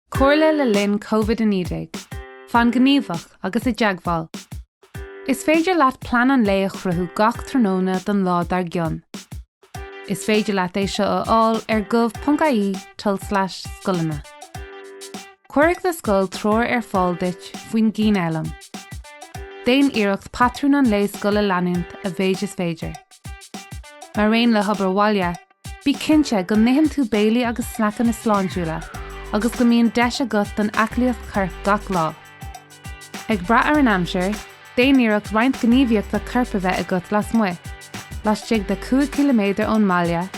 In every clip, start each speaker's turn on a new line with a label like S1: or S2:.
S1: Comhairle le linn Covid-19, Fan gníomhach agus i dteagmháil. Is féidir leat plean an lae a chruthú gach tráthnóna don lá dár gcionn. Is féidir leat é seo a fháil ar gov.ie tul/scoileanna. Cuirfidh do scoil treoir ar fáil duit faoin gcianfhoghlaim. Déan iarracht patrún an lae scoile a leanúint a mhéid is féidir. Mar aon le hobair bhaile, Bí cinnte go n-itheann tú béilí agus sneaiceanna sláintiúla agus go mbíonn deis agat don aclaíocht choirp gach lá. Ag brath ar an aimsir, déan iarracht roinnt gníomhaíochta coirp a bheith agat lasmuigh, laistigh de 5 km ón mbaile,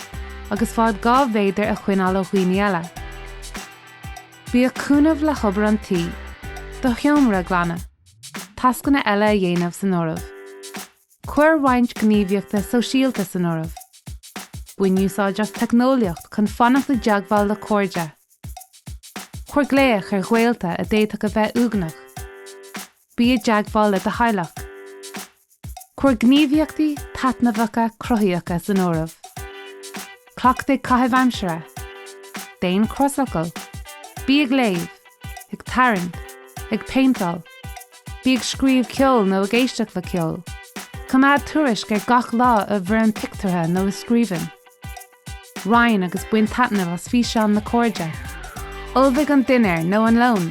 S1: agus fad 2 mhéadar a choinneáil ó dhaoine eile. Bíodh cúnamh le hobair an tí, do sheomra a ghlanadh, tascanna eile a dhéanamh san áireamh. Cuir roinnt gníomhaíochtaí sóisialta san áireamh. Bain úsáid as teicneolaíocht chun fanacht i dteagmháil le cairde. Cuir glaoch ar ghaolta a d'fhéadfadh a bheith uaigneach. Bí i dteagmháil le do theaghlach. Cuir gníomhaíochtaí taitneamhacha cruthaíocha san áireamh. Cleachtaigh caitheamh aimsire. Déan crosfhocal. Bí ag léamh. ag tarraingt, ag péinteáil, bí ag scríobh ceoil nó ag éisteacht le ceol, coimeád tuairisc ar gach lá i bhfoirm pictiúrtha nó i scríbhinn. Roinn agus bain taitneamh as físeáin le cairde. Ullmhaigh an dinnéar nó an lón,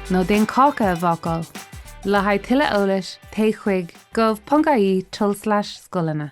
S1: nó déan cáca a bhácáil. Le haghaidh tuilleadh eolais téigh chuig gov.ie tul/scoileanna.